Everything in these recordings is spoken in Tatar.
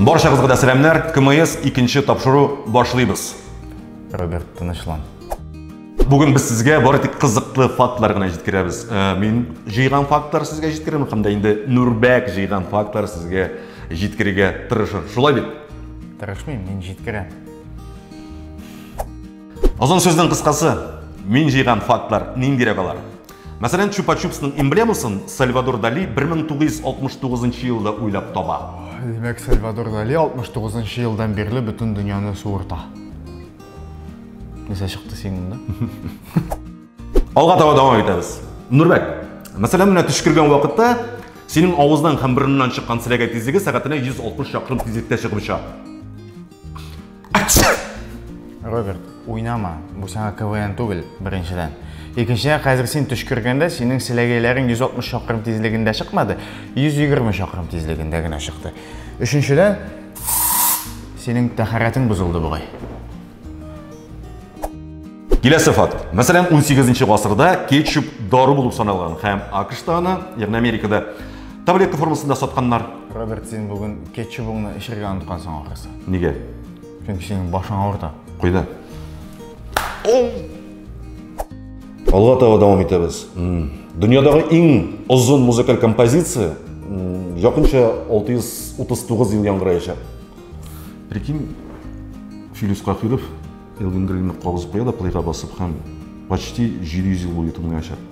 Баршагызга да сәламнәр. КМС икенче тапшыру башлыйбыз. Роберт, тынычлан. Бүген без сезгә бары тик кызыклы фактлар гына җиткерәбез. Э, мин җыйган фактлар сезгә җиткерәм һәм дә инде Нурбәк җыйган фактлар сезгә җиткерергә тырышыр. Шулай бит? Тырышмыйм, мин җиткерәм. Озын сүзнең кыскасы, мин җыйган фактлар ниндирәк алар? Мәсәлән, Чупа-чупсның эмблемасын Сальвадор Дали 1969 нчы елда уйлап таба. Димәк, Сальвадор Дали 69 нчы елдан бирле бөтен дөньяны суырта. Нәрсә чыкты синең монда? Алга таба дәвам итәбез. Нурбәк, мәсәлән, менә төшкергән вакытта синең авыздан һәм борыннан чыккан селәгәй тизлеге сәгатенә 160 чакрым тизлектә чыгып оча. Роберт, уйнама. Бу сиңа КВН түгел, беренчедән. Икенчедән, хәзер син төшкергәндә синең селәгәйләрең 160 чакрым тизлегендә чыкмады, 120 чакрым тизлегендә генә чыкты. Өченчедән, синең тәхәрәтең бозылды бугай. Киләсе факт. Мәсәлән, 18 нче гасырда кетчуп дару булып саналган һәм АКШта аны, ягъни Америкада, Таблетка формасында сатканнар. Роберт, син бүген кетчубыңны эчергә оныткансың ахрысы. Нигә? Чөнки синең башың авырта. Куйда. Алга таба дәвам итәбез. Дөньядагы иң озын музыкаль композиция якынча 639 ел яңгыраячак. Прикинь, Филис Кахиров Элвин Гринны кабызып куя да плейга басып һәм почти 700 ел буе тыңлаячак.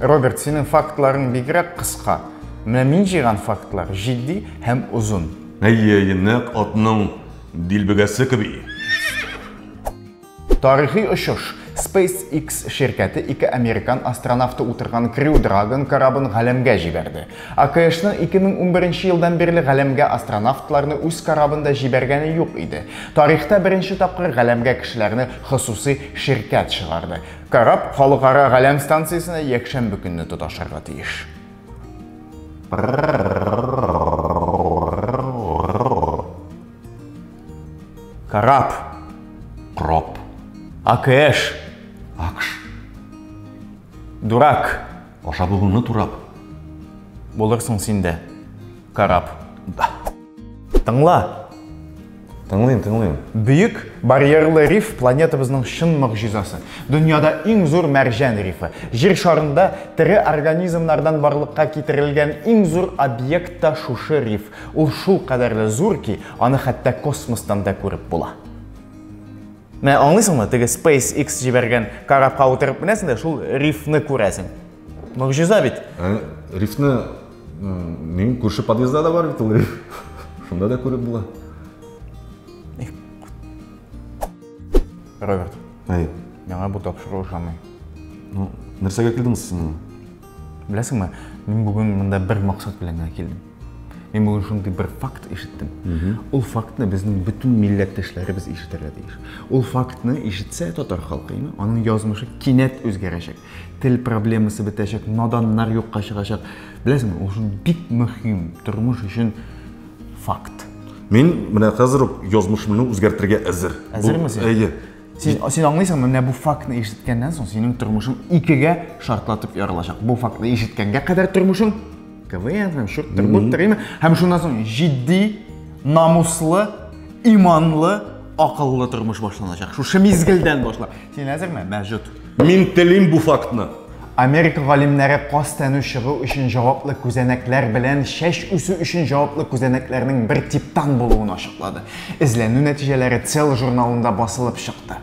Роберт, синең фактларың бигрәк кыска. Менә мин җыйган фактлар җитди һәм озын. Әйе, әйе, нәкъ атның дилбегәсе кеби. Тарихи очыш. SpaceX ширкәте ике американ астронавты утырган Crew Dragon корабын галәмгә җибәрде. АКШның 2011 елдан бирле галәмгә астронавтларны үз корабында җибәргәне юк иде. Тарихта беренче тапкыр галәмгә кешеләрне хосусый ширкәт чыгарды. Кораб халыкара галәм станциясенә якшәмбе көнне тоташырга тиеш. Кораб. Кроп. АКШ. Акш. Дурак. Аша булуны турап. Булырсың син дә. Кораб. Тыңла. Тыңлыйм, тыңлыйм. Бөек барьерлы риф планетабызның чын могҗизасы. Дөньяда иң зур мәрҗән рифы. Җир шарында тере организмнардан барлыкка китерелгән иң зур объект та шушы риф. Ул шул кадәрле зур ки, аны хәтта космостан да күреп була. Менә аңлыйсыңмы, теге SpaceX җибәргән корабка утырып менәсең дә шул рифны күрәсең. Могжиза бит. Ә, рифны минем күрше подъездда да бар бит ул риф. Шунда да күреп була. Роберт. Әй. Яңа бу тапшыру ошамый. Ну, нәрсәгә килдеңез сез миңа? Беләсеңме, мин бүген монда бер максат белән генә килдем. Мин бүген шундый бер факт ишеттем. Ул фактны безнең бөтен милләттәшләребез ишетергә тиеш. Ул фактны ишетсә татар халкы, аның язмышы кинәт үзгәрәчәк. Тел проблемасы бетәчәк, наданнар юкка чыгачак. Беләсеңме, ул шул бик мөһим, тормыш өчен факт. Мин менә хәзер үк язмышымны үзгәртергә әзер. Әзерме син? Әйе. Син, син аңлыйсыңмы, менә бу фактны ишеткәннән соң синең тормышың икегә шартлатып ярылачак. Бу фактны ишеткәнгә кадәр тормышың КВН һәм шурттыр, буттыр, име? Һәм шуннан соң җитди, намуслы, иманлы, акыллы тормыш башланачак. Шушы мизгелдән башлап. Син әзерме? Мәҗүт. Мин телим бу фактны. Америка галимнәре каз тәнү чыгу өчен җаваплы күзәнәкләр белән шәш үсү өчен җаваплы күзәнәкләрнең бер типтан булуын ачыклады. Эзләнү нәтиҗәләре Cell журналында басылып чыкты.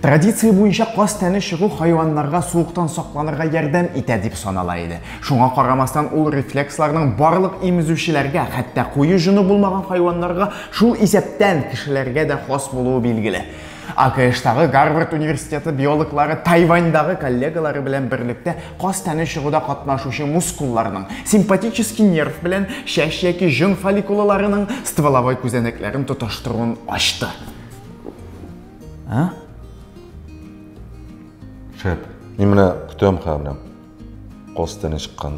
Традиция буенча каз тәне чыгу хайваннарга суыктан сакланырга ярдәм итә дип санала иде. Шуңа карамастан ул рефлексларның барлык имезүчеләргә, хәтта куе җоны булмаган хайваннарга, шул исәптән кешеләргә дә хас булуы билгеле. АКШтагы Гарвард университеты биологлары Тайваньдагы коллегалары белән берлектә каз тәне чыгуда катнашучы мускулларның, симпатический нерв белән чәч яки җон фолликулаларының стволовой күзәнәкләрен тоташтыруын ачты. А? Шәп. Мин менә көтәм хәзер. Каз тәне чыккан.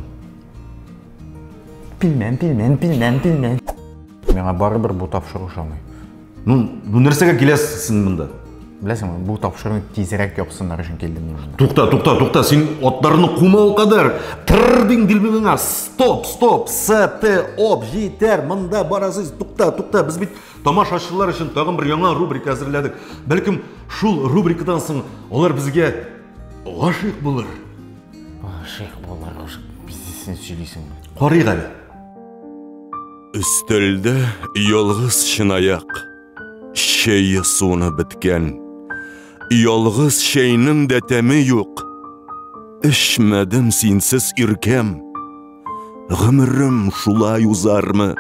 Пилмән, пилмән, пилмән, пилмән. Миңа барыбер бу тапшыру ошамый. Ну, ну нәрсәгә киләсез син монда? Беләсең, бу тапшыруны тизрәк япсыннар өчен килдем мин. Тукта, тукта, тукта, син атларны кума ул кадәр. Тыр дин дилбегеңә. Стоп, стоп, СТ, оп, җитәр, монда барасыз. Тукта, тукта, без бит тамашачылар өчен тагын бер яңа рубрика әзерләдек. Бәлкем шул рубрикадан соң алар безгә гашыйк булыр. Гашыйк булыр, гашык. Бизисен сөйлисең. Карыйк әле. Өстәлдә ялгыз чынаяк, чәйе суны беткән. Ялгыз чәйнең дә тәме юк. Эчмәдем синсез иркәм. Гомерем шулай узармы?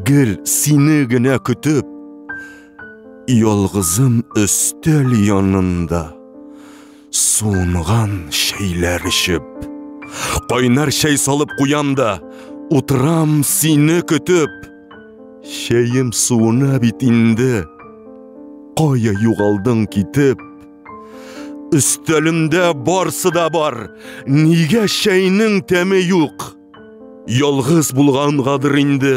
Гел сине генә көтеп. Ялгызым өстәл янында. Суынган чәйләр эчеп. Кайнар чәй салып куям да, утырам сине көтеп. Чәем суына бит инде. Кая югалдың китеп? Өстәлемдә барсы да бар. Нигә чәйнең тәме юк? Ялгыз булгангадыр инде.